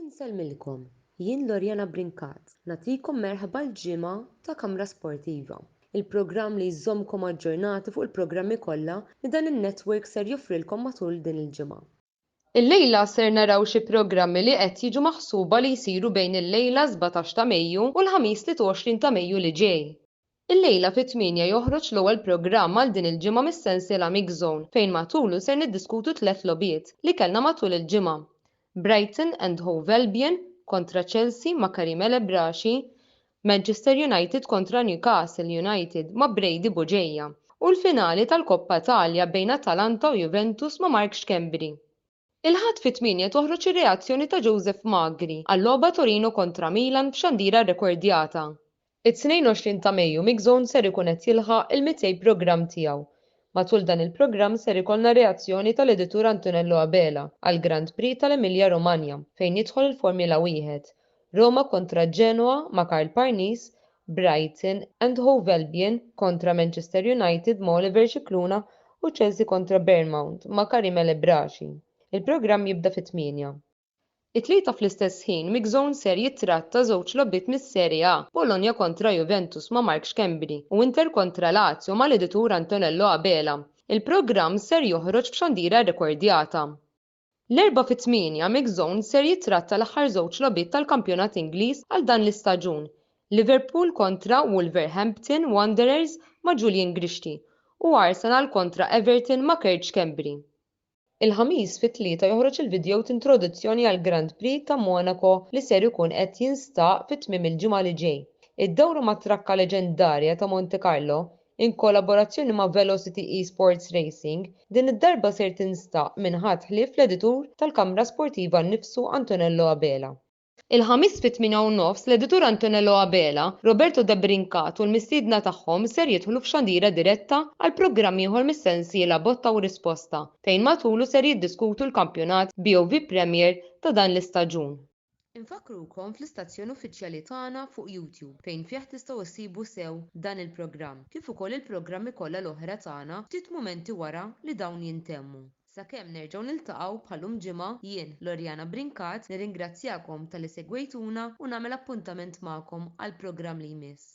Insellmilkom, jien Loriana Brincat, nagħtikom merħba l-ġimgħa ta' Kamra Sportiva, il-programm li jżommkom aġġornati fuq il-programmi kollha li dan in-network ser joffrilkom matul din il-ġimgħa. Illejla ser naraw xi programmi li qed jiġu maħsuba li jsiru bejn illejla 17 ta' Mejju u l-Ħamis 23 ta' Mejju li ġej. Illejla fit-tmienja joħroġ l-ewwel programm għal din il-ġimgħa mis-sensiela Mix Zone fejn matulu ser niddiskutu tliet logħbiet li kellna matul il-ġimgħa, Brighton and Hove Albion kontra Chelsea ma' Karim El Ebrashi, Manchester United kontra Newcastle United ma' Brady Bugeja u l-finali tal-Koppa Italja bejn Atalanta u Juventus ma' Mark Schembri. Il-Ħadd fit-tmienja toħroġ ir-reazzjoni ta' Joseph Magri għal-logħba Torino kontra Milan f'xandira rrekordjata. It-22 ta' Mejju MixZone ser ikun qed jilħaq il-200 programm tiegħu. Matul dan il-programm ser ikollna reazzjoni tal-editur Antonello Abela għall-Grand Prix tal-Emilia Romagna fejn jidħol il-Formula Wieħed, Roma kontra Genoa ma' Karl Parnis, Brighton and Hove Albion kontra Manchester United ma' Oliver Scicluna u Chelsea kontra Bournemount ma' Karim El Ebrachi. Il-programm jibda fit-tmienja. It-Tlieta fl-istess ħin MixZone ser jittratta żewġ logħbiet mis-Serie A, Bologna kontra Juventus ma' Mark Schembri u Inter kontra Lazio mal-editur Antonello Abela. Il-programm ser joħroġ f'xandira rrekordjata. L-Erbgħa fit-Tmienja Mix Zone ser jittratta l-aħħar żewġ logħbiet tal-kampjonat Ingliż għal dan l-istaġun, Liverpool kontra Wolverhampton Wanderers ma' Julian Grixti u Arsenal kontra Everton ma' Kurt Schembri. Il-Ħamis fit-Tlieta joħroġ il-vidjow t'introduzzjoni għall-Grand Prix ta' Monaco li ser ikun qed jinstaq fi tmiem il-ġimgħa li ġej. Id-dawra mat-trakka leġendarja ta' Monte Carlo Inkollaborazzjoni ma' Velocity Esports Racing, din id-darba ser tinstaq minn ħadd ħlief l-editur tal-kamra sportiva nnifsu Antonello Abela. Il-Ħamis fit-tmienja u nofs l-editur Antonello Abela, Roberto Debrincat u l-mistiedna tagħhom ser jidħlu f'xandira diretta għal programm ieħor mis-sensiela Botta u Risposta fejn matulu ser jiddiskutu l-kampjonat BOV Premier ta' dan l-istaġun. Infakkrukom fl-istazzjon uffiċjali tagħna fuq YouTube fejn fih tistgħu ssibu sew dan il-programm kif ukoll il-programmi kollha l-oħra tagħna ftit mumenti wara li dawn jintemmu. Sakemm nerġgħu niltaqgħu bħal-lum ġimgħa, jien, Loriana Brincat, nirringrazzjakom talli segwejtuna u nagħmel appuntament magħkom għall-programm li jmiss.